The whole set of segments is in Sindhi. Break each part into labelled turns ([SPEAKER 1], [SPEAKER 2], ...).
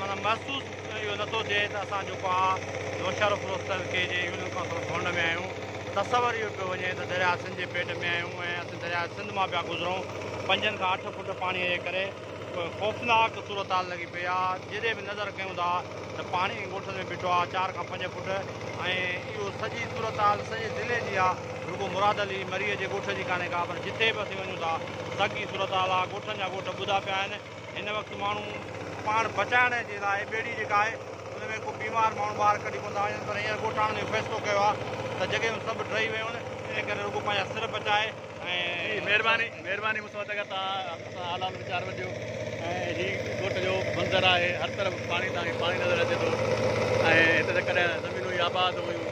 [SPEAKER 1] معنيٰ محسوس اهو نه ٿو ٿئي ته اسان جيڪو آء نوشهرو فروخت ڪرڻ ڪي جي يونين ڪائونسل ڀون ۾ آهيون. تصور اهو پيو وڃي ته درياء سنڌ جي پيٽ ۾ آهيون ۽ اسين درياء سنڌ مان پيا گذرون. پنجن کان اٺ فوٽ پاڻيء جي ڪري ڪو خوفناڪ صورتحال لڳي پئي آ. جيڏي به نظر ڪيون ٿا ته پاڻي ڳوٺن ۾ بيٺو آ چار کان پنج فوٽ ۽ اهو سڄي صورتحال سڄي ضلعي جي آ. رڳو مراد علي مريء جي ڳوٺ جي ڪانهي ڪا پر جتي به اسين وڃون ٿا ساڳي صورتحال آ. ڳوٺن جا ڳوٺ ٻڌا پيا آهن. هن وقت ماڻهو پاڻ بچائڻ جي لاء ٻيڙي جيڪا آهي ان ۾ ڪو بيمار ماڻهو ٻاهر ڪڍي ڪونه ٿا وڃن پر هينئر ڳوٺاڻن اهو فيصلو ڪيو آهي ته جڳهيون سڀ ڊهي ويون آهن ان ڪري رڳو پنهنجا سر بچائي ۽ مهرباني مهرباني
[SPEAKER 2] مون سمجهه ٿا ڪري توهان حال حال ويچار وٺجو ۽ هي ڳوٺ جو منظر آهي هر طرف پاڻي تان هي پاڻي نظر اچي ٿو ۽ هت ته ڪڏهن زمينون هي آباد هيون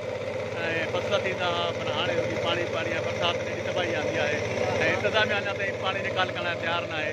[SPEAKER 2] ۽ فصل ٿيندا هئا پر هاڻي رڳي پاڻي پاڻي آهي برسات جي ايڏي تباهي آندي آهي ۽ انتظاميا اڃا تائين پاڻي نيڪال ڪرڻ لاء تيار ناهي